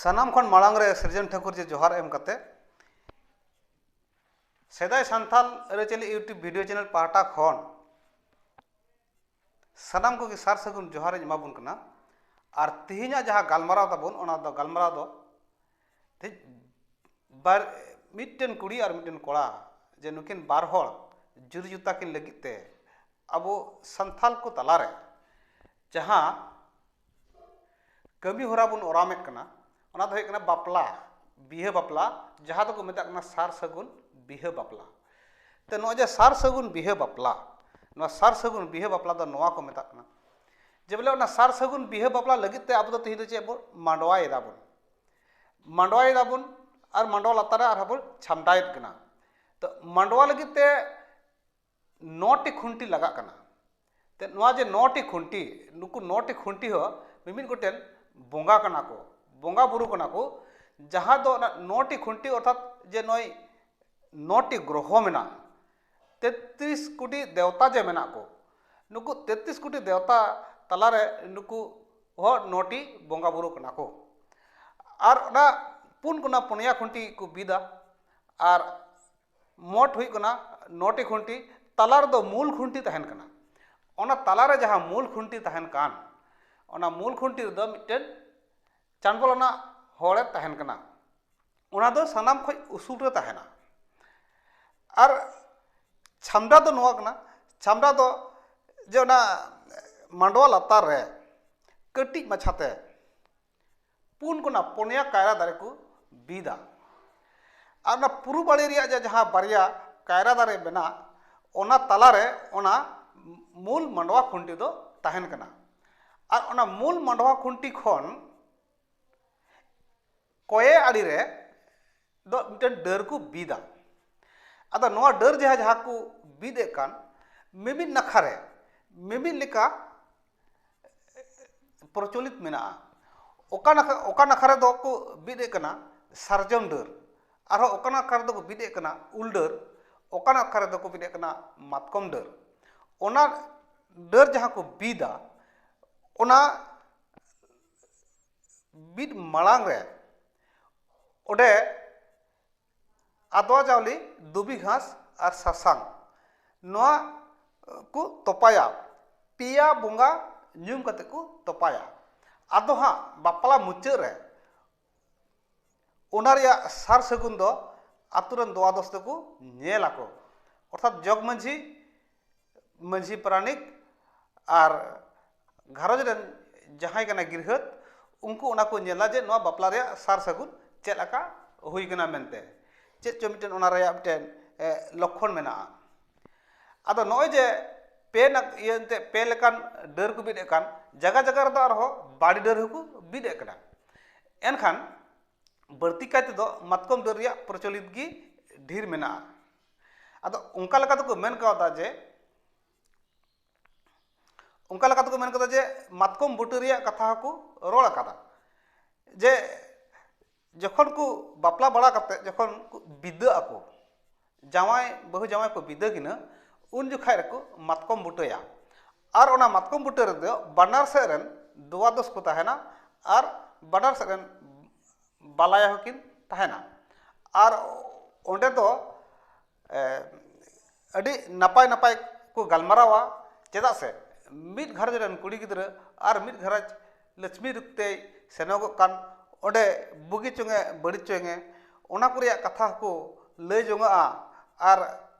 ᱥᱟᱱᱟᱢ ᱠᱷᱚᱱ ᱢᱟᱲᱟᱝ ᱨᱮ ᱥᱤᱨᱡᱚᱱ ᱴᱷᱟᱹᱠᱩᱨ ᱡᱮ ᱡᱚᱦᱟᱨ ᱮᱢ ᱠᱟᱛᱮ ᱥᱮᱫᱟᱭ ᱥᱟᱱᱛᱟᱞ ᱟᱹᱨᱤᱪᱟᱹᱞᱤ ᱤᱭᱩᱴᱩᱵᱽ ᱵᱷᱤᱰᱤᱭᱳ ᱪᱮᱱᱮᱞ ᱯᱟᱦᱴᱟ ᱠᱷᱚᱱ ᱥᱟᱱᱟᱢ ᱠᱚᱜᱮ ᱥᱟᱨ ᱥᱟᱹᱜᱩᱱ ᱡᱚᱦᱟᱨᱤᱧ ᱮᱢᱟᱵᱚᱱ ᱠᱟᱱᱟ ᱟᱨ ᱛᱮᱦᱮᱧᱟᱜ ᱡᱟᱦᱟᱸ ᱜᱟᱞᱢᱟᱨᱟᱣ ᱛᱟᱵᱚᱱ ᱚᱱᱟ ᱫᱚ ᱜᱟᱞᱢᱟᱨᱟᱣ ᱫᱚ ᱛᱮᱦᱮᱧ ᱵᱟᱨ ᱢᱤᱫᱴᱮᱱ ᱠᱩᱲᱤ ᱟᱨ ᱢᱤᱫᱴᱮᱱ ᱠᱚᱲᱟ ᱡᱮ ᱱᱩᱠᱤᱱ ᱵᱟᱨ ᱦᱚᱲ ᱡᱩᱨᱤ ᱡᱚᱛᱟ ᱠᱤᱱ ᱞᱟᱹᱜᱤᱫ ᱛᱮ ᱟᱵᱚ ᱥᱟᱱᱛᱟᱲ ᱠᱚ ᱛᱟᱞᱟᱨᱮ ᱡᱟᱦᱟᱸ ᱠᱟᱹᱢᱤ ᱦᱚᱨᱟ ᱵᱚᱱ ᱚᱨᱟᱢᱮᱫ ᱠᱟᱱᱟ ᱚᱱᱟ ᱫᱚ ᱦᱩᱭᱩᱜ ᱠᱟᱱᱟ ᱵᱟᱯᱞᱟ ᱵᱤᱦᱟᱹ ᱵᱟᱯᱞᱟ ᱡᱟᱦᱟᱸ ᱫᱚᱠᱚ ᱢᱮᱛᱟᱜ ᱠᱟᱱᱟ ᱥᱟᱨ ᱥᱟᱹᱜᱩᱱ ᱵᱤᱦᱟᱹ ᱵᱟᱯᱞᱟ ᱛᱚ ᱱᱚᱜᱼᱚᱭ ᱡᱮ ᱥᱟᱨ ᱥᱟᱹᱜᱩᱱ ᱵᱤᱦᱟᱹ ᱵᱟᱯᱞᱟ ᱱᱚᱣᱟ ᱥᱟᱨ ᱥᱟᱹᱜᱩᱱ ᱵᱤᱦᱟᱹ ᱵᱟᱯᱞᱟ ᱫᱚ ᱱᱚᱣᱟ ᱠᱚ ᱢᱮᱛᱟᱜ ᱠᱟᱱᱟ ᱡᱮ ᱵᱚᱞᱮ ᱚᱱᱟ ᱥᱟᱨ ᱥᱟᱹᱜᱩᱱ ᱵᱤᱦᱟᱹ ᱵᱟᱯᱞᱟ ᱞᱟᱹᱜᱤᱫ ᱛᱮ ᱟᱵᱚ ᱫᱚ ᱛᱮᱦᱮᱧ ᱫᱚ ᱪᱮᱫ ᱵᱚᱱ ᱢᱟᱰᱣᱟᱭ ᱫᱟᱵᱚᱱ ᱢᱟᱰᱣᱟᱭ ᱫᱟᱵᱚᱱ ᱟᱨ ᱢᱟᱰᱣᱟ ᱞᱟᱛᱟᱨ ᱨᱮ ᱟᱨᱦᱚᱸ ᱵᱚᱱ ᱪᱷᱟᱢᱰᱟᱭᱮᱫ ᱠᱟᱱᱟ ᱛᱚ ᱢᱟᱰᱣᱟ ᱞᱟᱹᱜᱤᱫ ᱛᱮ ᱱᱚᱴᱤ ᱠᱷᱩᱱᱴᱤ ᱞᱟᱜᱟᱜ ᱠᱟᱱᱟ ᱛᱚ ᱱᱚᱣᱟ ᱡᱮ ᱱᱚᱴᱤ ᱠᱷᱩᱱᱴᱤ ᱱᱩᱠᱩ ᱱᱚᱴᱤ ᱠᱷᱩᱱᱴᱤ ᱦᱚᱸ ᱢᱤᱢᱤᱫ ᱜᱚᱴᱮᱱ ᱵᱚᱸᱜᱟ ᱠᱟᱱᱟ ᱠᱚ ᱵᱚᱸᱜᱟ ᱵᱳᱨᱳ ᱠᱟᱱᱟ ᱠᱚ ᱡᱟᱦᱟᱸ ᱫᱚ ᱚᱱᱟ ᱱᱚᱴᱤ ᱠᱷᱩᱱᱴᱤ ᱚᱨᱛᱷᱟᱛ ᱡᱮ ᱱᱚᱜᱼᱚᱭ ᱱᱚᱴᱤ ᱜᱨᱚᱦᱚ ᱢᱮᱱᱟᱜᱼᱟ ᱛᱮᱛᱨᱤᱥ ᱠᱳᱴᱤ ᱫᱮᱣᱛᱟ ᱡᱮ ᱢᱮᱱᱟᱜ ᱠᱚ ᱱᱩᱠᱩ ᱛᱮᱛᱨᱤᱥ ᱠᱳᱴᱤ ᱫᱮᱣᱛᱟ ᱛᱟᱞᱟᱨᱮ ᱱᱩᱠᱩ ᱦᱚᱸ ᱱᱚᱴᱤ ᱵᱚᱸᱜᱟ ᱵᱳᱨᱳ ᱠᱟᱱᱟ ᱠᱚ ᱟᱨ ᱚᱱᱟ ᱯᱩᱱ ᱠᱚᱱᱟ ᱯᱩᱱᱭᱟ ᱠᱷᱩᱱᱴᱤ ᱠᱚ ᱵᱤᱫᱟ ᱟᱨ ᱢᱳᱴ ᱦᱩᱭᱩᱜ ᱠᱟᱱᱟ ᱱᱚᱴᱤ ᱠᱷᱩᱱᱴᱤ ᱛᱟᱞᱟ ᱨᱮᱫᱚ ᱢᱩᱞ ᱠᱷᱩᱱᱴᱤ ᱛᱟᱦᱮᱱ ᱠᱟᱱᱟ ᱚᱱᱟ ᱛᱟᱞᱟᱨᱮ ᱡᱟᱦᱟᱸ ᱢᱩᱞ ᱠᱷᱩᱱᱴᱤ ᱛᱟᱦᱮᱱ ᱠᱟᱱ ᱚᱱᱟ ᱢᱩᱞ ᱠᱷᱩᱱᱴᱤ ᱨᱮᱫᱚ ᱢᱤᱫᱴᱮᱱ ᱪᱟᱸᱜᱚᱞ ᱟᱱᱟᱜ ᱦᱚᱲᱮ ᱛᱟᱦᱮᱱ ᱠᱟᱱᱟ ᱚᱱᱟ ᱫᱚ ᱥᱟᱱᱟᱢ ᱠᱷᱚᱱ ᱩᱥᱩᱞ ᱨᱮ ᱛᱟᱦᱮᱱᱟ ᱟᱨ ᱪᱷᱟᱢᱰᱟ ᱫᱚ ᱱᱚᱣᱟ ᱠᱟᱱᱟ ᱪᱷᱟᱢᱰᱟ ᱫᱚ ᱡᱮ ᱚᱱᱟ ᱢᱟᱰᱣᱟ ᱞᱟᱛᱟᱨ ᱨᱮ ᱠᱟᱹᱴᱤᱡ ᱢᱟᱪᱷᱟᱛᱮ ᱯᱩᱱ ᱠᱚᱱᱟ ᱯᱩᱱᱭᱟ ᱠᱟᱭᱨᱟ ᱫᱟᱨᱮ ᱠᱚ ᱵᱤᱫᱟ ᱟᱨ ᱚᱱᱟ ᱯᱩᱨᱩᱵ ᱟᱲᱮ ᱨᱮᱭᱟᱜ ᱡᱮ ᱡᱟᱦᱟᱸ ᱵᱟᱨᱭᱟ ᱠᱟᱭᱨᱟ ᱫᱟᱨᱮ ᱢᱮᱱᱟᱜ ᱚᱱᱟ ᱛᱟᱞᱟᱨᱮ ᱚᱱᱟ ᱢᱩᱞ ᱢᱟᱰᱣᱟ ᱠᱷᱩᱱᱴᱤ ᱫᱚ ᱛᱟᱦᱮᱱ ᱠᱟᱱᱟ ᱟᱨ ᱚᱱᱟ ᱢᱩᱞ ᱢᱟᱰᱣᱟ ᱠᱷᱩᱱᱴᱤ ᱠᱷᱚᱱ ᱠᱚᱭᱮ ᱟᱲᱮ ᱨᱮ ᱫᱚ ᱢᱤᱫᱴᱮᱱ ᱰᱟᱹᱨ ᱠᱚ ᱵᱤᱫᱟ ᱟᱫᱚ ᱱᱚᱣᱟ ᱰᱟᱹᱨ ᱡᱟᱦᱟᱸ ᱡᱟᱦᱟᱸ ᱠᱚ ᱵᱤᱫ ᱮᱫ ᱠᱟᱱ ᱢᱤᱢᱤᱫ ᱱᱟᱠᱷᱟ ᱨᱮ ᱢᱤᱢᱤᱫ ᱞᱮᱠᱟ ᱯᱨᱚᱪᱚᱞᱤᱛ ᱢᱮᱱᱟᱜᱼᱟ ᱚᱠᱟ ᱱᱟᱠᱷᱟ ᱚᱠᱟ ᱱᱟᱠᱷᱟ ᱨᱮᱫᱚ ᱠᱚ ᱵᱤᱫ ᱮᱫ ᱠᱟᱱᱟ ᱥᱟᱨᱡᱚᱢ ᱰᱟᱹᱨ ᱟᱨᱦᱚᱸ ᱚᱠᱟ ᱱᱟᱠᱷᱟ ᱨᱮᱫᱚ ᱠᱚ ᱵᱤᱫ ᱮᱫ ᱠᱟᱱᱟ ᱩᱞ ᱰᱟᱹᱨ ᱚᱠᱟ ᱱᱟᱠᱷᱟ ᱨᱮᱫᱚ ᱠᱚ ᱵᱤᱫ ᱮᱫ ᱠᱟᱱᱟ ᱢᱟᱛᱠᱚᱢ ᱰᱟᱹᱨ ᱚᱱᱟ ᱰᱟᱹᱨ ᱡᱟᱦᱟᱸ ᱠᱚ ᱵᱤᱫᱟ ᱚᱱᱟ ᱵᱤᱫ ᱢᱟᱲᱟᱝ ᱨᱮ ᱚᱸᱰᱮ ᱟᱫᱽᱣᱟ ᱪᱟᱣᱞᱮ ᱫᱷᱩᱵᱤ ᱜᱷᱟᱥ ᱟᱨ ᱥᱟᱥᱟᱝ ᱱᱚᱣᱟ ᱠᱚ ᱛᱚᱯᱟᱭᱟ ᱯᱮᱭᱟ ᱵᱚᱸᱜᱟ ᱧᱩᱢ ᱠᱟᱛᱮ ᱠᱚ ᱛᱚᱯᱟᱭᱟ ᱟᱫᱚ ᱦᱟᱸᱜ ᱵᱟᱯᱞᱟ ᱢᱩᱪᱟᱹᱫ ᱨᱮ ᱚᱱᱟ ᱨᱮᱭᱟᱜ ᱥᱟᱨ ᱥᱟᱹᱜᱩᱱ ᱫᱚ ᱟᱛᱳ ᱨᱮᱱ ᱫᱚᱣᱟ ᱫᱚᱥ ᱛᱮᱠᱚ ᱧᱮᱞ ᱟᱠᱚ ᱚᱨᱛᱷᱟᱛ ᱡᱚᱜᱽ ᱢᱟᱹᱡᱷᱤ ᱢᱟᱹᱡᱷᱤ ᱯᱟᱨᱟᱱᱤᱠ ᱟᱨ ᱜᱷᱟᱨᱚᱸᱡᱽ ᱨᱮᱱ ᱡᱟᱦᱟᱸᱭ ᱠᱟᱱᱟᱭ ᱜᱨᱤᱦᱟᱹᱛ ᱩᱱᱠᱩ ᱚᱱᱟ ᱠᱚ ᱧᱮᱞᱟ ᱡᱮ ᱱᱚᱣᱟ ᱵᱟᱯᱞᱟ ᱨᱮᱭᱟᱜ ᱥᱟᱨ ᱥᱟᱹᱜᱩᱱ ᱪᱮᱫ ᱞᱮᱠᱟ ᱦᱩᱭ ᱠᱟᱱᱟ ᱢᱮᱱᱛᱮ ᱪᱮᱫ ᱪᱚᱝ ᱢᱤᱫᱴᱮᱱ ᱚᱱᱟ ᱨᱮᱭᱟᱜ ᱢᱤᱫᱴᱮᱱ ᱞᱚᱠᱠᱷᱚᱱ ᱢᱮᱱᱟᱜᱼᱟ ᱟᱫᱚ ᱱᱚᱜᱼᱚᱭ ᱡᱮ ᱯᱮ ᱤᱭᱟᱹ ᱮᱱᱛᱮᱫ ᱯᱮ ᱞᱮᱠᱟᱱ ᱰᱟᱹᱨ ᱠᱚ ᱵᱤᱫ ᱮᱫ ᱠᱟᱱ ᱡᱟᱭᱜᱟ ᱡᱟᱭᱜᱟ ᱨᱮᱫᱚ ᱟᱨᱦᱚᱸ ᱵᱟᱲᱮ ᱰᱟᱹᱨ ᱦᱚᱸᱠᱚ ᱵᱤᱫ ᱮᱫ ᱠᱟᱱᱟ ᱮᱱᱠᱷᱟᱱ ᱵᱟᱹᱲᱛᱤ ᱠᱟᱭ ᱛᱮᱫᱚ ᱢᱟᱛᱠᱚᱢ ᱰᱟᱹᱨ ᱨᱮᱭᱟᱜ ᱯᱨᱚᱪᱚᱞᱤᱛ ᱜᱮ ᱰᱷᱮᱨ ᱢᱮᱱᱟᱜᱼᱟ ᱟᱫᱚ ᱚᱱᱠᱟ ᱞᱮᱠᱟ ᱛᱮᱠᱚ ᱢᱮᱱ ᱠᱟᱣᱫᱟ ᱡᱮ ᱚᱱᱠᱟ ᱞᱮᱠᱟ ᱛᱮᱠᱚ ᱢᱮᱱ ᱠᱟᱫᱟ ᱡᱮ ᱢᱟᱛᱠᱚᱢ ᱵᱩᱴᱟᱹ ᱨᱮᱭᱟᱜ ᱠᱟᱛᱷᱟ ᱦᱚᱸᱠᱚ ᱨᱚᱲ ᱟᱠᱟᱫᱟ ᱡᱮ ᱡᱚᱠᱷᱚᱱ ᱠᱚ ᱵᱟᱯᱞᱟ ᱵᱟᱲᱟ ᱠᱟᱛᱮ ᱡᱚᱠᱷᱚᱱ ᱠᱚ ᱵᱤᱫᱟᱹᱜ ᱟᱠᱚ ᱡᱟᱶᱟᱭ ᱵᱟᱹᱦᱩ ᱡᱟᱶᱟᱭ ᱠᱚ ᱵᱤᱫᱟᱹ ᱠᱤᱱᱟᱹ ᱩᱱ ᱡᱚᱠᱷᱟᱡ ᱨᱮᱠᱚ ᱢᱟᱛᱠᱚᱢ ᱵᱩᱴᱟᱹᱭᱟ ᱟᱨ ᱚᱱᱟ ᱢᱟᱛᱠᱚᱢ ᱵᱩᱴᱟᱹ ᱨᱮᱫᱚ ᱵᱟᱱᱟᱨ ᱥᱮᱫ ᱨᱮᱱ ᱫᱩᱣᱟᱫᱚᱥ ᱠᱚ ᱛᱟᱦᱮᱱᱟ ᱟᱨ ᱵᱟᱱᱟᱨ ᱥᱮᱫ ᱨᱮᱱ ᱵᱟᱞᱟᱭᱟ ᱦᱚᱸᱠᱤᱱ ᱛᱟᱦᱮᱱᱟ ᱟᱨ ᱚᱸᱰᱮ ᱫᱚ ᱟᱹᱰᱤ ᱱᱟᱯᱟᱭ ᱱᱟᱯᱟᱭ ᱠᱚ ᱜᱟᱞᱢᱟᱨᱟᱣᱟ ᱪᱮᱫᱟᱜ ᱥᱮ ᱢᱤᱫ ᱜᱷᱟᱨᱚᱸᱡᱽ ᱨᱮᱱ ᱠᱩᱲᱤ ᱜᱤᱫᱽᱨᱟᱹ ᱟᱨ ᱢᱤᱫ ᱜᱷᱟᱨᱚᱸᱡᱽ ᱞᱟᱹᱪᱷᱢᱤ ᱨᱩᱯ ᱛᱮᱭ ᱥᱮᱱᱚᱜᱚᱜ ᱠᱟᱱ ᱚᱸᱰᱮ ᱵᱩᱜᱤ ᱪᱚᱝ ᱮ ᱵᱟᱹᱲᱤᱡ ᱪᱚᱝ ᱮ ᱚᱱᱟ ᱠᱚ ᱨᱮᱭᱟᱜ ᱠᱟᱛᱷᱟ ᱦᱚᱸᱠᱚ ᱞᱟᱹᱭ ᱡᱚᱱᱚᱜᱼᱟ ᱟᱨ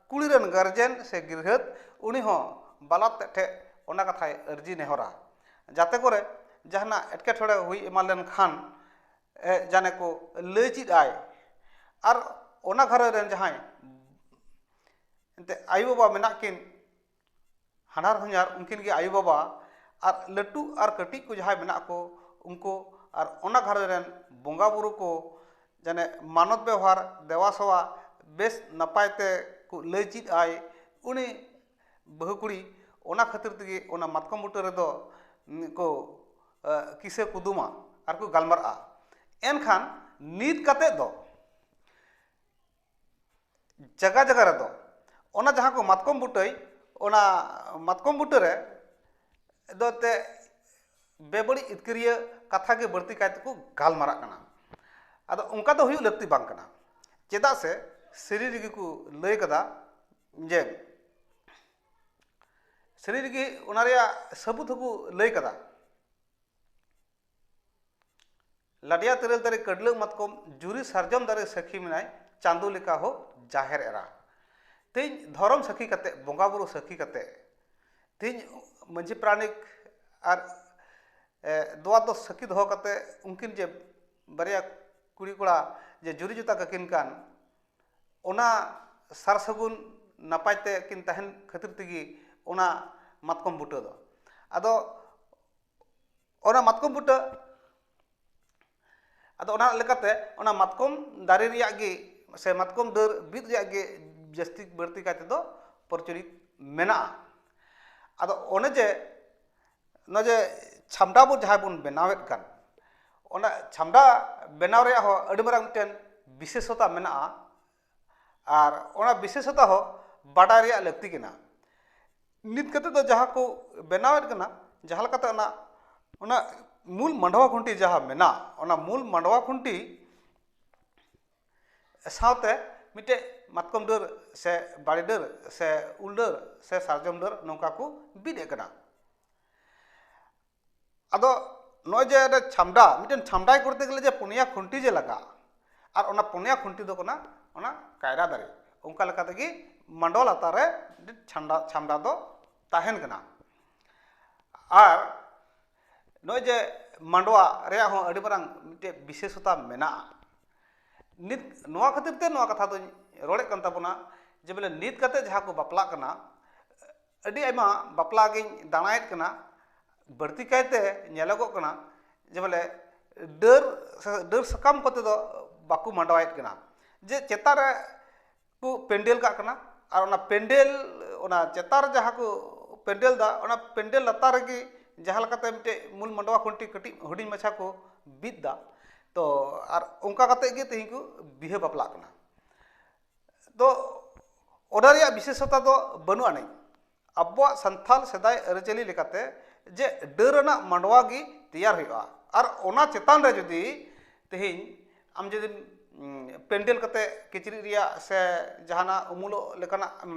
ᱠᱩᱲᱤ ᱨᱮᱱ ᱜᱟᱨᱡᱮᱱ ᱥᱮ ᱜᱤᱫᱽᱨᱟᱹ ᱩᱱᱤ ᱦᱚᱸ ᱵᱟᱞᱚᱠ ᱛᱮᱫ ᱴᱷᱮᱱ ᱚᱱᱟ ᱠᱟᱛᱷᱟᱭ ᱟᱹᱨᱡᱤ ᱱᱮᱦᱚᱨᱟ ᱡᱟᱛᱮ ᱠᱚᱨᱮ ᱡᱟᱦᱟᱱᱟᱜ ᱮᱴᱠᱮᱴᱚᱬᱮ ᱦᱩᱭ ᱮᱢᱟᱱ ᱞᱮᱱᱠᱷᱟᱱ ᱡᱟᱱᱮ ᱠᱚ ᱞᱟᱹᱭ ᱪᱮᱫ ᱟᱭ ᱟᱨ ᱚᱱᱟ ᱜᱷᱟᱨᱚᱸᱡᱽ ᱨᱮᱱ ᱡᱟᱦᱟᱸᱭ ᱮᱱᱛᱮᱫ ᱟᱭᱳᱼᱵᱟᱵᱟ ᱢᱮᱱᱟᱜ ᱠᱤᱱ ᱦᱟᱱᱦᱟᱨ ᱦᱚᱧᱦᱟᱨ ᱩᱱᱠᱤᱱ ᱜᱮ ᱟᱭᱳᱼᱵᱟᱵᱟ ᱟᱨ ᱞᱟᱹᱴᱩ ᱟᱨ ᱠᱟᱹᱴᱤᱡ ᱠᱚ ᱡᱟᱦᱟᱸᱭ ᱢᱮᱱᱟᱜ ᱠᱚ ᱩᱱᱠᱩ ᱟᱨ ᱚᱱᱟ ᱜᱷᱟᱨᱚᱸᱡᱽ ᱨᱮᱱ ᱵᱚᱸᱜᱟᱼᱵᱳᱨᱳ ᱠᱚ ᱡᱟᱱᱮ ᱢᱟᱱᱚᱛ ᱵᱮᱣᱦᱟᱨ ᱫᱮᱵᱟᱼᱥᱮᱵᱟ ᱵᱮᱥ ᱱᱟᱯᱟᱭ ᱛᱮ ᱞᱟᱹᱭ ᱪᱮᱫ ᱟᱭ ᱩᱱᱤ ᱵᱟᱹᱦᱩ ᱠᱩᱲᱤ ᱚᱱᱟ ᱠᱷᱟᱹᱛᱤᱨ ᱛᱮᱜᱮ ᱚᱱᱟ ᱢᱟᱛᱠᱚᱢ ᱵᱩᱴᱟᱹ ᱨᱮᱫᱚ ᱠᱚ ᱠᱤᱥᱟᱹ ᱠᱩᱫᱩᱢᱟ ᱟᱨ ᱠᱚ ᱜᱟᱞᱢᱟᱨᱟᱜᱼᱟ ᱮᱱᱠᱷᱟᱱ ᱱᱤᱛ ᱠᱟᱛᱮ ᱫᱚ ᱡᱟᱭᱜᱟ ᱡᱟᱭᱜᱟ ᱨᱮᱫᱚ ᱚᱱᱟ ᱡᱟᱦᱟᱸ ᱠᱚ ᱢᱟᱛᱠᱚᱢ ᱵᱩᱴᱟᱹᱭ ᱚᱱᱟ ᱢᱟᱛᱠᱚᱢ ᱵᱩᱴᱟᱹ ᱨᱮ ᱫᱚ ᱮᱱᱛᱮᱫ ᱵᱮᱵᱟᱹᱲᱤᱡ ᱤᱛᱠᱤᱨᱤᱭᱟᱹ ᱠᱟᱛᱷᱟ ᱜᱮ ᱵᱟᱹᱲᱛᱤ ᱠᱟᱭ ᱛᱮᱠᱚ ᱜᱟᱞᱢᱟᱨᱟᱜ ᱠᱟᱱᱟ ᱟᱫᱚ ᱚᱱᱠᱟ ᱫᱚ ᱦᱩᱭᱩᱜ ᱞᱟᱹᱠᱛᱤ ᱵᱟᱝ ᱠᱟᱱᱟ ᱪᱮᱫᱟᱜ ᱥᱮ ᱥᱟᱹᱨᱤ ᱨᱮᱜᱮ ᱠᱚ ᱞᱟᱹᱭ ᱠᱟᱫᱟ ᱡᱮ ᱥᱟᱹᱨᱤ ᱨᱮᱜᱮ ᱚᱱᱟ ᱨᱮᱭᱟᱜ ᱥᱟᱹᱵᱩᱫ ᱦᱚᱸᱠᱚ ᱞᱟᱹᱭ ᱠᱟᱫᱟ ᱞᱟᱰᱭᱟ ᱛᱮᱨᱮᱞ ᱫᱟᱨᱮ ᱠᱟᱹᱰᱞᱟᱹ ᱢᱟᱛᱠᱚᱢ ᱡᱩᱨᱤ ᱥᱟᱨᱡᱚᱢ ᱫᱟᱨᱮ ᱥᱟᱹᱠᱷᱤ ᱢᱮᱱᱟᱭ ᱪᱟᱸᱫᱚ ᱞᱮᱠᱟ ᱦᱚᱸ ᱡᱟᱦᱮᱨ ᱮᱨᱟ ᱛᱮᱦᱮᱧ ᱫᱷᱚᱨᱚᱢ ᱥᱟᱹᱠᱷᱤ ᱠᱟᱛᱮ ᱵᱚᱸᱜᱟ ᱵᱩᱨᱩ ᱥᱟᱹᱠᱷᱤ ᱠᱟᱛᱮ ᱛᱮᱦᱮᱧ ᱢᱟᱹᱡᱷᱤ ᱯᱨᱟᱱᱤᱠ ᱟᱨ ᱫᱚᱣᱟ ᱫᱚ ᱥᱟᱹᱠᱷᱤ ᱫᱚᱦᱚ ᱠᱟᱛᱮ ᱩᱱᱠᱤᱱ ᱡᱮ ᱵᱟᱨᱭᱟ ᱠᱩᱲᱤ ᱠᱚᱲᱟ ᱡᱮ ᱡᱩᱨᱤ ᱡᱚᱛᱟ ᱠᱟᱹᱠᱤᱱ ᱠᱟᱱ ᱚᱱᱟ ᱥᱟᱨ ᱥᱟᱹᱜᱩᱱ ᱱᱟᱯᱟᱭ ᱛᱮᱠᱤᱱ ᱛᱟᱦᱮᱱ ᱠᱷᱟᱹᱛᱤᱨ ᱛᱮᱜᱮ ᱚᱱᱟ ᱢᱟᱛᱠᱚᱢ ᱵᱩᱴᱟᱹ ᱫᱚ ᱟᱫᱚ ᱚᱱᱟ ᱢᱟᱛᱠᱚᱢ ᱵᱩᱴᱟᱹ ᱟᱫᱚ ᱚᱱᱟ ᱞᱮᱠᱟᱛᱮ ᱚᱱᱟ ᱢᱟᱛᱠᱚᱢ ᱫᱟᱨᱮ ᱨᱮᱭᱟᱜ ᱜᱮ ᱥᱮ ᱢᱟᱛᱠᱚᱢ ᱰᱟᱹᱨ ᱵᱤᱫ ᱨᱮᱭᱟᱜ ᱜᱮ ᱡᱟᱹᱥᱛᱤ ᱵᱟᱹᱲᱛᱤ ᱠᱟᱭ ᱛᱮᱫᱚ ᱯᱨᱚᱪᱚᱞᱤᱛ ᱢᱮᱱᱟᱜᱼᱟ ᱟᱫᱚ ᱚᱱᱮ ᱡᱮ ᱱᱚᱜᱼᱚᱭ ᱡᱮ ᱪᱷᱟᱢᱰᱟ ᱵᱚᱱ ᱡᱟᱦᱟᱸ ᱵᱚᱱ ᱵᱮᱱᱟᱣᱮᱫ ᱠᱟᱱ ᱚᱱᱟ ᱪᱷᱟᱢᱰᱟ ᱵᱮᱱᱟᱣ ᱨᱮᱭᱟᱜ ᱦᱚᱸ ᱟᱹᱰᱤ ᱢᱟᱨᱟᱝ ᱢᱤᱫᱴᱮᱱ ᱵᱤᱥᱮᱥᱚᱛᱟ ᱢᱮᱱᱟᱜᱼᱟ ᱟᱨ ᱚᱱᱟ ᱵᱤᱥᱮᱥᱚᱛᱟ ᱦᱚᱸ ᱵᱟᱰᱟᱭ ᱨᱮᱭᱟᱜ ᱞᱟᱹᱠᱛᱤ ᱠᱟᱱᱟ ᱱᱤᱛ ᱠᱟᱛᱮᱫ ᱫᱚ ᱡᱟᱦᱟᱸ ᱠᱚ ᱵᱮᱱᱟᱣᱮᱫ ᱠᱟᱱᱟ ᱡᱟᱦᱟᱸ ᱞᱮᱠᱟᱛᱮ ᱚᱱᱟ ᱚᱱᱟ ᱢᱩᱞ ᱢᱟᱰᱣᱟ ᱠᱷᱩᱱᱴᱤ ᱡᱟᱦᱟᱸ ᱢᱮᱱᱟᱜ ᱚᱱᱟ ᱢᱩᱞ ᱢᱟᱰᱣᱟ ᱠᱷᱩᱱᱴᱤ ᱥᱟᱶᱛᱮ ᱢᱤᱫᱴᱮᱡ ᱢᱟᱛᱠᱚᱢ ᱰᱟᱹᱨ ᱥᱮ ᱵᱟᱲᱮ ᱰᱟᱹᱨ ᱥᱮ ᱩᱞ ᱰᱟᱹᱨ ᱥᱮ ᱥᱟᱨᱡᱚᱢ ᱰᱟᱹᱨ ᱱᱚᱝᱠᱟ ᱠᱚ ᱵᱤᱫ ᱮᱜ ᱠᱟᱱᱟ ᱟᱫᱚ ᱱᱚᱜᱼᱚᱭ ᱡᱮ ᱪᱷᱟᱢᱰᱟ ᱢᱤᱫᱴᱮᱱ ᱪᱷᱟᱢᱰᱟᱭ ᱠᱚᱨᱛᱮ ᱜᱮᱞᱮ ᱡᱮ ᱯᱩᱱᱭᱟ ᱠᱷᱩᱱᱴᱤ ᱡᱮ ᱞᱟᱜᱟᱜᱼᱟ ᱟᱨ ᱚᱱᱟ ᱯᱩᱱᱭᱟ ᱠᱷᱩᱱᱴᱤ ᱫᱚ ᱠᱟᱱᱟ ᱚᱱᱟ ᱠᱟᱭᱨᱟ ᱫᱟᱨᱮ ᱚᱱᱠᱟ ᱞᱮᱠᱟ ᱛᱮᱜᱮ ᱢᱟᱰᱣᱟ ᱞᱟᱛᱟᱨ ᱨᱮ ᱪᱷᱟᱢᱰᱟ ᱪᱷᱟᱢᱰᱟ ᱫᱚ ᱛᱟᱦᱮᱱ ᱠᱟᱱᱟ ᱟᱨ ᱱᱚᱜᱼᱚᱭ ᱡᱮ ᱢᱟᱰᱣᱟ ᱨᱮᱭᱟᱜ ᱦᱚᱸ ᱟᱹᱰᱤ ᱢᱟᱨᱟᱝ ᱢᱤᱫᱴᱮᱡ ᱵᱤᱥᱮᱥᱚᱛᱟ ᱢᱮᱱᱟᱜᱼᱟ ᱱᱤᱛ ᱱᱚᱣᱟ ᱠᱷᱟᱹᱛᱤᱨ ᱛᱮ ᱱᱚᱣᱟ ᱠᱟᱛᱷᱟ ᱫᱚᱧ ᱨᱚᱲᱮᱫ ᱠᱟᱱ ᱛᱟᱵᱚᱱᱟ ᱡᱮ ᱵᱚᱞᱮ ᱱᱤᱛ ᱠᱟᱛᱮᱫ ᱡᱟᱦᱟᱸ ᱠᱚ ᱵᱟᱯᱞᱟᱜ ᱠᱟᱱᱟ ᱟᱹᱰᱤ ᱟᱭᱢᱟ ᱵᱟᱯᱞᱟ ᱜᱤᱧ ᱫᱟᱬᱟᱭᱮᱫ ᱠᱟᱱᱟ ᱵᱟᱹᱲᱛᱤ ᱠᱟᱭᱛᱮ ᱧᱮᱞᱚᱜᱚᱜ ᱠᱟᱱᱟ ᱡᱮ ᱵᱚᱞᱮ ᱰᱟᱹᱨ ᱥᱮ ᱰᱟᱹᱨ ᱥᱟᱠᱟᱢ ᱠᱚᱛᱮ ᱫᱚ ᱵᱟᱠᱚ ᱢᱟᱰᱣᱟᱭᱮᱫ ᱠᱟᱱᱟ ᱡᱮ ᱪᱮᱛᱟᱱ ᱨᱮ ᱠᱚ ᱯᱮᱱᱰᱮᱞ ᱠᱟᱜ ᱠᱟᱱᱟ ᱟᱨ ᱚᱱᱟ ᱯᱮᱱᱰᱮᱞ ᱚᱱᱟ ᱪᱮᱛᱟᱱ ᱨᱮ ᱡᱟᱦᱟᱸ ᱠᱚ ᱯᱮᱱᱰᱮᱞ ᱫᱟ ᱚᱱᱟ ᱯᱮᱱᱰᱮᱞ ᱞᱟᱛᱟᱨ ᱨᱮᱜᱮ ᱡᱟᱦᱟᱸ ᱞᱮᱠᱟᱛᱮ ᱢᱤᱫᱴᱮᱡ ᱢᱩᱞ ᱢᱟᱰᱣᱟ ᱠᱷᱩᱱᱴᱤ ᱠᱟᱹᱴᱤᱡ ᱦᱩᱰᱤᱧ ᱢᱟᱪᱷᱟ ᱠᱚ ᱵᱤᱫ ᱫᱟ ᱛᱚ ᱟᱨ ᱚᱱᱠᱟ ᱠᱟᱛᱮ ᱜᱮ ᱛᱮᱦᱮᱧ ᱠᱚ ᱵᱤᱦᱟᱹ ᱵᱟᱯᱞᱟᱜ ᱠᱟᱱᱟ ᱛᱚ ᱚᱱᱟ ᱨᱮᱭᱟᱜ ᱵᱤᱥᱮᱥᱚᱛᱟ ᱫᱚ ᱵᱟᱹᱱᱩᱜ ᱟᱹᱱᱤᱡ ᱟᱵᱚᱣᱟᱜ ᱥᱟᱱᱛᱟᱲ ᱥᱮᱫᱟᱭ ᱟᱹᱨᱤᱪᱟᱹᱞᱤ ᱞᱮᱠᱟᱛᱮ ᱡᱮ ᱰᱟᱹᱨ ᱟᱱᱟᱜ ᱢᱟᱰᱣᱟ ᱜᱮ ᱛᱮᱭᱟᱨ ᱦᱩᱭᱩᱜᱼᱟ ᱟᱨ ᱚᱱᱟ ᱪᱮᱛᱟᱱ ᱨᱮ ᱡᱩᱫᱤ ᱛᱮᱦᱮᱧ ᱟᱢ ᱡᱩᱫᱤᱢ ᱯᱮᱱᱰᱮᱞ ᱠᱟᱛᱮ ᱠᱤᱪᱨᱤᱡ ᱨᱮᱭᱟᱜ ᱥᱮ ᱡᱟᱦᱟᱱᱟᱜ ᱩᱢᱩᱞᱚᱜ ᱞᱮᱠᱟᱱᱟᱜ ᱮᱢ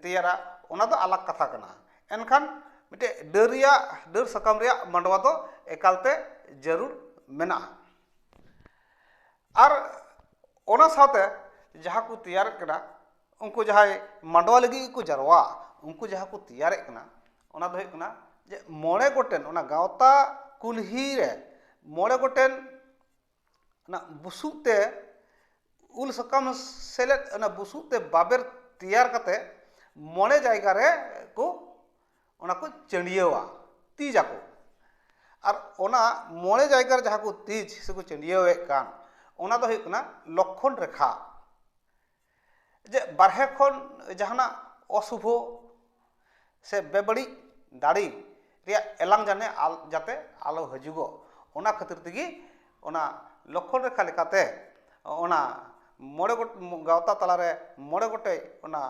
ᱛᱮᱭᱟᱨᱟ ᱚᱱᱟ ᱫᱚ ᱟᱞᱟᱜᱽ ᱠᱟᱛᱷᱟ ᱠᱟᱱᱟ ᱮᱱᱠᱷᱟᱱ ᱢᱤᱫᱴᱮᱡ ᱰᱟᱹᱨ ᱨᱮᱭᱟᱜ ᱰᱟᱹᱨ ᱥᱟᱠᱟᱢ ᱨᱮᱭᱟᱜ ᱢᱟᱰᱣᱟ ᱫᱚ ᱮᱠᱟᱞᱛᱮ ᱡᱟᱹᱨᱩᱲ ᱢᱮᱱᱟᱜᱼᱟ ᱟᱨ ᱚᱱᱟ ᱥᱟᱶᱛᱮ ᱡᱟᱦᱟᱸ ᱠᱚ ᱛᱮᱭᱟᱨᱮᱫ ᱠᱟᱱᱟ ᱩᱱᱠᱩ ᱡᱟᱦᱟᱸᱭ ᱢᱟᱰᱣᱟ ᱞᱟᱹᱜᱤᱫ ᱜᱮᱠᱚ ᱡᱟᱨᱣᱟᱜᱼᱟ ᱩᱱᱠᱩ ᱡᱟᱦᱟᱸ ᱠᱚ ᱛᱮᱭᱟᱨᱮᱫ ᱠᱟᱱᱟ ᱚᱱᱟ ᱫᱚ ᱦᱩᱭᱩᱜ ᱠᱟᱱᱟ ᱡᱮ ᱢᱚᱬᱮ ᱜᱚᱴᱮᱱ ᱚᱱᱟ ᱜᱟᱶᱛᱟ ᱠᱩᱞᱦᱤ ᱨᱮ ᱢᱚᱬᱮ ᱜᱚᱴᱮᱱ ᱚᱱᱟ ᱵᱩᱥᱩᱵ ᱛᱮ ᱩᱞ ᱥᱟᱠᱟᱢ ᱥᱮᱞᱮᱫ ᱚᱱᱟ ᱵᱩᱥᱩᱵ ᱛᱮ ᱵᱟᱵᱮᱨ ᱛᱮᱭᱟᱨ ᱠᱟᱛᱮᱫ ᱢᱚᱬᱮ ᱡᱟᱭᱜᱟ ᱨᱮ ᱠᱚ ᱚᱱᱟ ᱠᱚ ᱪᱟᱹᱰᱭᱟᱹᱣᱟ ᱛᱤᱡ ᱟᱠᱚ ᱟᱨ ᱚᱱᱟ ᱢᱚᱬᱮ ᱡᱟᱭᱜᱟ ᱨᱮ ᱡᱟᱦᱟᱸ ᱠᱚ ᱛᱤᱡ ᱥᱮ ᱠᱚ ᱪᱟᱹᱰᱭᱟᱹᱣ ᱮᱫ ᱠᱟᱱ ᱚᱱᱟ ᱫᱚ ᱦᱩᱭᱩᱜ ᱠᱟᱱᱟ ᱞᱚᱠᱠᱷᱚᱱ ᱨᱮᱠᱷᱟ ᱡᱮ ᱵᱟᱦᱨᱮ ᱠᱷᱚᱱ ᱡᱟᱦᱟᱱᱟᱜ ᱚᱥᱩᱵᱷᱚ ᱥᱮ ᱵᱮᱵᱟᱹᱲᱤᱡ ᱫᱟᱲᱮ ᱨᱮᱭᱟᱜ ᱮᱞᱟᱝ ᱡᱟᱱᱮ ᱡᱟᱛᱮ ᱟᱞᱚ ᱦᱤᱡᱩᱜᱚᱜ ᱚᱱᱟ ᱠᱷᱟᱹᱛᱤᱨ ᱛᱮᱜᱮ ᱚᱱᱟ ᱞᱚᱠᱠᱷᱚᱱ ᱨᱮᱠᱷᱟ ᱞᱮᱠᱟᱛᱮ ᱚᱱᱟ ᱢᱚᱬᱮ ᱜᱚᱴᱮᱡ ᱜᱟᱶᱛᱟ ᱛᱟᱞᱟᱨᱮ ᱢᱚᱬᱮ ᱜᱚᱴᱮᱡ ᱚᱱᱟ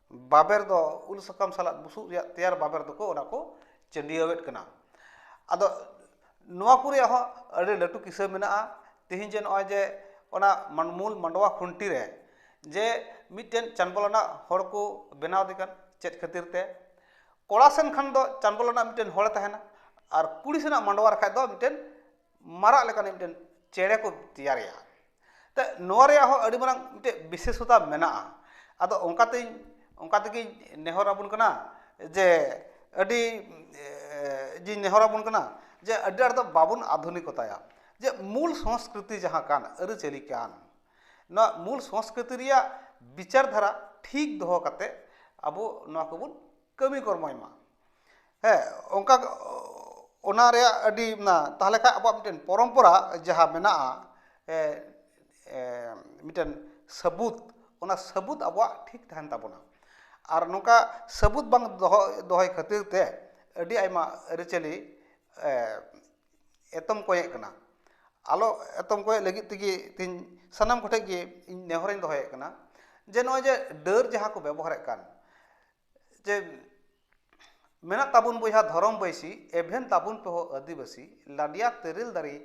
ᱵᱟᱵᱮᱨ ᱫᱚ ᱩᱞ ᱥᱟᱠᱟᱢ ᱥᱟᱞᱟᱜ ᱵᱩᱥᱩᱵ ᱨᱮᱭᱟᱜ ᱛᱮᱭᱟᱨ ᱵᱟᱵᱮᱨ ᱫᱚᱠᱚ ᱚᱱᱟ ᱠᱚ ᱪᱟᱹᱰᱭᱟᱹᱣᱮᱫ ᱠᱟᱱᱟ ᱟᱫᱚ ᱱᱚᱣᱟ ᱠᱚ ᱨᱮᱭᱟᱜ ᱦᱚᱸ ᱟᱹᱰᱤ ᱞᱟᱹᱴᱩ ᱠᱤᱥᱟᱹ ᱢᱮᱱᱟᱜᱼᱟ ᱛᱮᱦᱮᱧ ᱡᱮ ᱱᱚᱜᱼᱚᱭ ᱡᱮ ᱚᱱᱟ ᱢᱩᱞ ᱢᱟᱰᱣᱟ ᱠᱷᱩᱱᱴᱤ ᱨᱮ ᱡᱮ ᱢᱤᱫᱴᱮᱱ ᱪᱟᱸᱰᱵᱚᱞ ᱟᱱᱟᱜ ᱦᱚᱲ ᱠᱚ ᱵᱮᱱᱟᱣᱫᱮ ᱠᱟᱱ ᱪᱮᱫ ᱠᱷᱟᱹᱛᱤᱨ ᱛᱮ ᱠᱚᱲᱟ ᱥᱮᱱ ᱠᱷᱟᱱ ᱫᱚ ᱪᱟᱸᱰᱵᱚᱞ ᱟᱱᱟᱜ ᱢᱤᱫᱴᱮᱱ ᱦᱚᱲᱮ ᱛᱟᱦᱮᱱᱟ ᱟᱨ ᱠᱩᱲᱤ ᱥᱮᱱᱟᱜ ᱢᱟᱰᱣᱟ ᱨᱮᱠᱷᱟᱱ ᱫᱚ ᱢᱤᱫᱴᱮᱱ ᱢᱟᱨᱟᱜ ᱞᱮᱠᱟᱱᱤᱡ ᱢᱤᱫᱴᱮᱱ ᱪᱮᱬᱮ ᱠᱚ ᱛᱮᱭᱟᱨᱮᱭᱟ ᱛᱚ ᱱᱚᱣᱟ ᱨᱮᱭᱟᱜ ᱦᱚᱸ ᱟᱹᱰᱤ ᱢᱟᱨᱟᱝ ᱢᱤᱫᱴᱮᱡ ᱵᱤᱥᱮᱥᱚᱛᱟ ᱢᱮᱱᱟᱜᱼᱟ ᱟᱫᱚ ᱚᱱᱠᱟ ᱛᱤᱧ ᱚᱱᱠᱟ ᱛᱮᱜᱮᱧ ᱱᱮᱦᱚᱨ ᱟᱵᱚᱱ ᱠᱟᱱᱟ ᱡᱮ ᱟᱹᱰᱤ ᱡᱮᱧ ᱱᱮᱦᱚᱨ ᱟᱵᱚᱱ ᱠᱟᱱᱟ ᱡᱮ ᱟᱹᱰᱤ ᱟᱸᱴ ᱫᱚ ᱵᱟᱵᱚᱱ ᱟᱫᱷᱩᱱᱤᱠᱚᱛᱟᱭᱟ ᱡᱮ ᱢᱩᱞ ᱥᱚᱥᱠᱨᱤᱛᱤ ᱡᱟᱦᱟᱸ ᱠᱟᱱ ᱟᱹᱨᱤᱪᱟᱹᱞᱤ ᱠᱟᱱ ᱱᱚᱣᱟ ᱢᱩᱞ ᱥᱚᱥᱠᱨᱤᱛᱤ ᱨᱮᱭᱟᱜ ᱵᱤᱪᱟᱨ ᱫᱷᱟᱨᱟ ᱴᱷᱤᱠ ᱫᱚᱦᱚ ᱠᱟᱛᱮ ᱟᱵᱚ ᱱᱚᱣᱟ ᱠᱚᱵᱚᱱ ᱠᱟᱹᱢᱤ ᱠᱚᱨᱢᱚᱭ ᱢᱟ ᱦᱮᱸ ᱚᱱᱠᱟ ᱚᱱᱟ ᱨᱮᱭᱟᱜ ᱟᱹᱰᱤ ᱚᱱᱟ ᱛᱟᱦᱚᱞᱮ ᱠᱷᱟᱱ ᱟᱵᱚᱣᱟᱜ ᱢᱤᱫᱴᱮᱱ ᱯᱚᱨᱚᱢᱯᱚᱨᱟ ᱡᱟᱦᱟᱸ ᱢᱮᱱᱟᱜᱼᱟ ᱢᱤᱫᱴᱮᱱ ᱥᱟᱹᱵᱩᱫ ᱚᱱᱟ ᱥᱟᱹᱵᱩᱫ ᱟᱵᱚᱣᱟᱜ ᱴᱷᱤᱠ ᱛᱟᱦᱮᱱ ᱛᱟᱵᱚᱱᱟ ᱟᱨ ᱱᱚᱝᱠᱟ ᱥᱟᱹᱵᱩᱫ ᱵᱟᱝ ᱫᱚᱦᱚ ᱫᱚᱦᱚᱭ ᱠᱷᱟᱹᱛᱤᱨ ᱛᱮ ᱟᱹᱰᱤ ᱟᱭᱢᱟ ᱟᱹᱨᱤᱪᱟᱹᱞᱤ ᱮᱛᱚᱢ ᱠᱚᱸᱭᱮᱜ ᱠᱟᱱᱟ ᱟᱞᱚ ᱮᱛᱚᱢ ᱠᱚᱸᱭᱮᱜ ᱞᱟᱹᱜᱤᱫ ᱛᱮᱜᱮ ᱛᱮᱦᱤᱧ ᱥᱟᱱᱟᱢ ᱠᱚᱴᱷᱮᱱ ᱜᱮ ᱤᱧ ᱱᱮᱦᱚᱨ ᱤᱧ ᱫᱚᱦᱚᱭᱮᱜ ᱠᱟᱱᱟ ᱡᱮ ᱱᱚᱜᱼᱚᱭ ᱡᱮ ᱰᱟᱹᱨ ᱡᱟᱦᱟᱸ ᱠᱚ ᱵᱮᱵᱚᱦᱟᱨᱮᱜ ᱠᱟᱱ ᱡᱮ ᱢᱮᱱᱟᱜ ᱛᱟᱵᱚᱱ ᱵᱚᱭᱦᱟ ᱫᱷᱚᱨᱚᱢ ᱵᱟᱹᱭᱥᱤ ᱮᱵᱷᱮᱱ ᱛᱟᱵᱚᱱ ᱯᱮ ᱦᱳ ᱟᱹᱫᱤᱵᱟᱹᱥᱤ ᱞᱟᱰᱮᱭᱟ ᱛᱮᱨᱮᱞ ᱫᱟᱨᱮ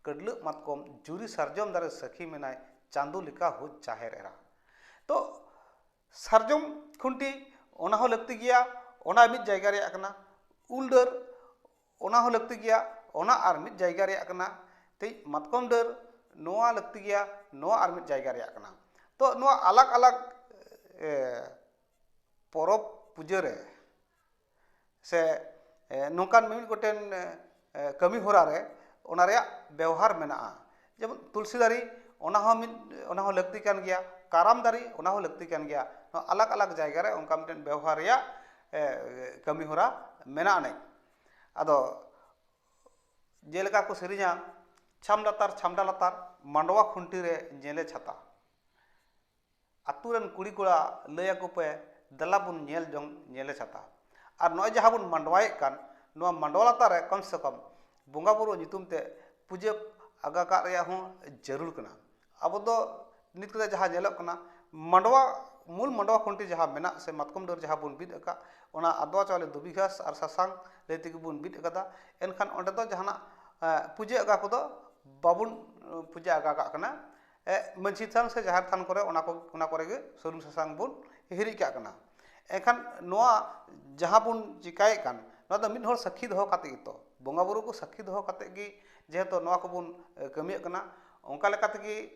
ᱠᱟᱹᱰᱞᱟᱹᱜ ᱢᱟᱛᱠᱚᱢ ᱡᱩᱨᱤ ᱥᱟᱨᱡᱚᱢ ᱫᱟᱨᱮ ᱥᱟᱹᱠᱷᱤ ᱢᱮᱱᱟᱭ ᱪᱟᱸᱫᱚ ᱞᱮᱠᱟ ᱦᱳ ᱡᱟᱦᱮᱨ ᱮᱨᱟ ᱛᱚ ᱥᱟᱨᱡᱚᱢ ᱠᱷᱩᱱᱴᱤ ᱚᱱᱟ ᱦᱚᱸ ᱞᱟᱹᱠᱛᱤ ᱜᱮᱭᱟ ᱚᱱᱟ ᱢᱤᱫ ᱡᱟᱭᱜᱟ ᱨᱮᱭᱟᱜ ᱠᱟᱱᱟ ᱩᱞ ᱰᱟᱹᱨ ᱚᱱᱟ ᱦᱚᱸ ᱞᱟᱹᱠᱛᱤ ᱜᱮᱭᱟ ᱚᱱᱟ ᱟᱨ ᱢᱤᱫ ᱡᱟᱭᱜᱟ ᱨᱮᱭᱟᱜ ᱠᱟᱱᱟ ᱛᱮᱡ ᱢᱟᱛᱠᱚᱢ ᱰᱟᱹᱨ ᱱᱚᱣᱟ ᱞᱟᱹᱠᱛᱤ ᱜᱮᱭᱟ ᱱᱚᱣᱟ ᱟᱨ ᱢᱤᱫ ᱡᱟᱭᱜᱟ ᱨᱮᱭᱟᱜ ᱠᱟᱱᱟ ᱛᱚ ᱱᱚᱣᱟ ᱟᱞᱟᱜᱽ ᱟᱞᱟᱜᱽ ᱯᱚᱨᱚᱵᱽ ᱯᱩᱡᱟᱹ ᱨᱮ ᱥᱮ ᱱᱚᱝᱠᱟᱱ ᱢᱤᱢᱤᱫ ᱜᱚᱴᱮᱱ ᱠᱟᱹᱢᱤ ᱦᱚᱨᱟ ᱨᱮ ᱚᱱᱟ ᱨᱮᱭᱟᱜ ᱵᱮᱣᱦᱟᱨ ᱢᱮᱱᱟᱜᱼᱟ ᱡᱮᱢᱚᱱ ᱛᱩᱞᱥᱤ ᱫᱟᱨᱮ ᱚᱱᱟ ᱦᱚᱸ ᱢᱤᱫ ᱚᱱᱟ ᱦᱚᱸ ᱞᱟᱹᱠᱛᱤ ᱠᱟᱱ ᱜᱮᱭᱟ ᱠᱟᱨᱟᱢ ᱫᱟᱨᱮ ᱚᱱᱟ ᱦᱚᱸ ᱞᱟᱹᱠᱛᱤ ᱠᱟᱱ ᱜᱮᱭᱟ ᱱᱚᱣᱟ ᱟᱞᱟᱜᱽ ᱟᱞᱟᱜᱽ ᱡᱟᱭᱜᱟ ᱨᱮ ᱚᱱᱠᱟ ᱢᱤᱫᱴᱮᱱ ᱵᱮᱣᱦᱟᱨ ᱨᱮᱭᱟᱜ ᱠᱟᱹᱢᱤ ᱦᱚᱨᱟ ᱢᱮᱱᱟᱜ ᱟᱹᱱᱤᱡ ᱟᱫᱚ ᱡᱮᱞᱮᱠᱟ ᱠᱚ ᱥᱮᱨᱮᱧᱟ ᱪᱷᱟᱢᱰᱟ ᱞᱟᱛᱟᱨ ᱪᱷᱟᱢᱰᱟ ᱞᱟᱛᱟᱨ ᱢᱟᱰᱣᱟ ᱠᱷᱩᱱᱴᱤ ᱨᱮ ᱧᱮᱞᱮ ᱪᱷᱟᱛᱟ ᱟᱹᱛᱩ ᱨᱮᱱ ᱠᱩᱲᱤ ᱠᱚᱲᱟ ᱞᱟᱹᱭ ᱟᱠᱚ ᱯᱮ ᱫᱮᱞᱟ ᱵᱚᱱ ᱧᱮᱞ ᱡᱚᱝ ᱧᱮᱞᱮ ᱪᱷᱟᱛᱟ ᱟᱨ ᱱᱚᱜᱼᱚᱭ ᱡᱟᱦᱟᱸ ᱵᱚᱱ ᱢᱟᱰᱣᱟᱭᱮᱫ ᱠᱟᱱ ᱱᱚᱣᱟ ᱢᱟᱰᱣᱟ ᱞᱟᱛᱟᱨ ᱨᱮ ᱠᱚᱢ ᱥᱮ ᱠᱚᱢ ᱵᱚᱸᱜᱟ ᱵᱳᱨᱳ ᱧᱩᱛᱩᱢ ᱛᱮ ᱯᱩᱡᱟᱹ ᱟᱜᱟ ᱠᱟᱜ ᱨᱮᱭᱟᱜ ᱦᱚᱸ ᱡᱟᱹᱨᱩᱲ ᱠᱟᱱᱟ ᱟᱵᱚ ᱫᱚ ᱱᱤᱛ ᱠᱟᱛᱮᱜ ᱡᱟᱦᱟᱸ ᱧᱮᱞᱚᱜ ᱠᱟᱱᱟ ᱢᱟᱰᱣᱟ ᱢᱩᱞ ᱢᱟᱰᱣᱟ ᱠᱷᱩᱱᱴᱤ ᱡᱟᱦᱟᱸ ᱢᱮᱱᱟᱜ ᱥᱮ ᱢᱟᱛᱠᱚᱢ ᱰᱟᱹᱨ ᱡᱟᱦᱟᱸ ᱵᱚᱱ ᱵᱤᱫ ᱟᱠᱟᱫ ᱚᱱᱟ ᱟᱫᱽᱣᱟ ᱪᱟᱣᱞᱮ ᱫᱷᱩᱵᱤ ᱜᱷᱟᱥ ᱟᱨ ᱥᱟᱥᱟᱝ ᱞᱟᱹᱭ ᱛᱮᱜᱮ ᱵᱚᱱ ᱵᱤᱫ ᱠᱟᱫᱟ ᱮᱱᱠᱷᱟᱱ ᱚᱸᱰᱮ ᱫᱚ ᱡᱟᱦᱟᱱᱟᱜ ᱯᱩᱡᱟᱹ ᱟᱜᱟ ᱠᱚᱫᱚ ᱵᱟᱵᱚᱱ ᱯᱩᱡᱟᱹ ᱟᱜᱟ ᱠᱟᱜ ᱠᱟᱱᱟ ᱢᱟᱹᱡᱷᱤ ᱛᱷᱟᱱ ᱥᱮ ᱡᱟᱦᱮᱨ ᱛᱷᱟᱱ ᱠᱚᱨᱮ ᱚᱱᱟ ᱠᱚ ᱚᱱᱟ ᱠᱚᱨᱮ ᱜᱮ ᱥᱩᱱᱩᱢ ᱥᱟᱥᱟᱝ ᱵᱚᱱ ᱦᱤᱨᱤᱡ ᱠᱟᱜ ᱠᱟᱱᱟ ᱮᱱᱠᱷᱟᱱ ᱱᱚᱣᱟ ᱡᱟᱦᱟᱸ ᱵᱚᱱ ᱪᱤᱠᱟᱹᱭᱮᱫ ᱠᱟᱱ ᱱᱚᱣᱟ ᱫᱚ ᱢᱤᱫ ᱦᱚᱲ ᱥᱟᱹᱠᱷᱤ ᱫᱚᱦᱚ ᱠᱟᱛᱮᱫ ᱜᱮᱛᱚ ᱵᱚᱸᱜᱟ ᱵᱳᱨᱳ ᱠᱚ ᱥᱟᱹᱠᱷᱤ ᱫᱚᱦᱚ ᱠᱟᱛᱮᱫ ᱜᱮ ᱡᱮᱦᱮᱛᱩ ᱱᱚᱣᱟ ᱠᱚᱵᱚᱱ ᱠᱟᱹᱢᱤᱭᱮᱫ ᱠᱟᱱᱟ ᱚᱱᱠᱟ ᱞᱮᱠᱟ ᱛᱮᱜᱮ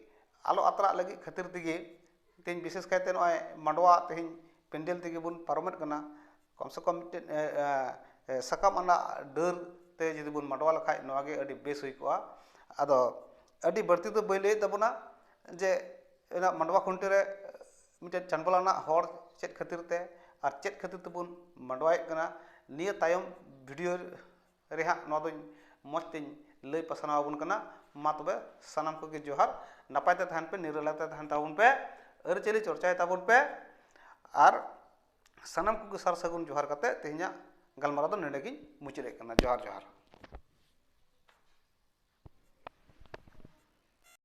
ᱟᱞᱚ ᱟᱛᱨᱟᱜ ᱞᱟᱹᱜᱤᱫ ᱠᱷᱟᱹᱛᱤᱨ ᱛᱮᱜᱮ ᱛᱮᱦᱤᱧ ᱵᱤᱥᱮᱥ ᱠᱟᱭᱛᱮ ᱱᱚᱜᱼᱚᱭ ᱢᱟᱰᱣᱟ ᱛᱮᱦᱤᱧ ᱯᱮᱱᱰᱮᱞ ᱛᱮᱜᱮ ᱵᱚᱱ ᱯᱟᱨᱚᱢᱮᱫ ᱠᱟᱱᱟ ᱠᱚᱢ ᱥᱮ ᱠᱚᱢ ᱢᱤᱫᱴᱮᱱ ᱥᱟᱠᱟᱢ ᱟᱱᱟᱜ ᱰᱟᱹᱨ ᱛᱮ ᱡᱩᱫᱤ ᱵᱚᱱ ᱢᱟᱰᱣᱟ ᱞᱮᱠᱷᱟᱱ ᱱᱚᱣᱟ ᱜᱮ ᱟᱹᱰᱤ ᱵᱮᱥ ᱦᱩᱭ ᱠᱚᱜᱼᱟ ᱟᱫᱚ ᱟᱹᱰᱤ ᱵᱟᱹᱲᱛᱤ ᱫᱚ ᱵᱟᱹᱧ ᱞᱟᱹᱭᱮᱫ ᱛᱟᱵᱚᱱᱟ ᱡᱮ ᱚᱱᱟ ᱢᱟᱰᱣᱟ ᱠᱷᱩᱱᱴᱤ ᱨᱮ ᱢᱤᱫᱴᱮᱱ ᱪᱟᱸᱰᱵᱚᱞ ᱟᱱᱟᱜ ᱦᱚᱨ ᱪᱮᱫ ᱠᱷᱟᱹᱛᱤᱨ ᱛᱮ ᱟᱨ ᱪᱮᱫ ᱠᱷᱟᱹᱛᱤᱨ ᱛᱮᱵᱚᱱ ᱢᱟᱰᱣᱟᱭᱮᱫ ᱠᱟᱱᱟ ᱱᱤᱭᱟᱹ ᱛᱟᱭᱚᱢ ᱵᱷᱤᱰᱤᱭᱳ ᱨᱮ ᱦᱟᱸᱜ ᱱᱚᱣᱟ ᱫᱚᱧ ᱢᱚᱡᱽ ᱛᱮᱧ ᱞᱟᱹᱭ ᱯᱟᱥᱱᱟᱣ ᱟᱵᱚᱱ ᱠᱟᱱᱟ ᱢᱟ ᱛᱚᱵᱮ ᱥᱟᱱᱟᱢ ᱠᱚᱜᱮ ᱡᱚᱦᱟᱨ ᱱᱟᱯᱟᱭ ᱛᱮ ᱛᱟᱦᱮᱱ ᱯᱮ ᱱᱤᱨᱟᱞᱟᱭ ᱛᱮ ᱛᱟᱦᱮᱱ ᱛᱟᱵᱚᱱ ᱯᱮ ᱟᱹᱨᱤᱪᱟᱹᱞᱤ ᱪᱚᱨᱪᱟᱭ ᱛᱟᱵᱚᱱ ᱯᱮ ᱟᱨ ᱥᱟᱱᱟᱢ ᱠᱚᱜᱮ ᱥᱟᱨ ᱥᱟᱹᱜᱩᱱ ᱡᱚᱦᱟᱨ ᱠᱟᱛᱮᱫ ᱛᱮᱦᱮᱧᱟᱜ ᱜᱟᱞᱢᱟᱨᱟᱣ ᱫᱚ ᱱᱚᱰᱮ ᱜᱤᱧ ᱢᱩᱪᱟᱹᱫ ᱮᱫ ᱠᱟᱱᱟ ᱡᱚᱦᱟᱨ ᱡᱚᱦᱟᱨ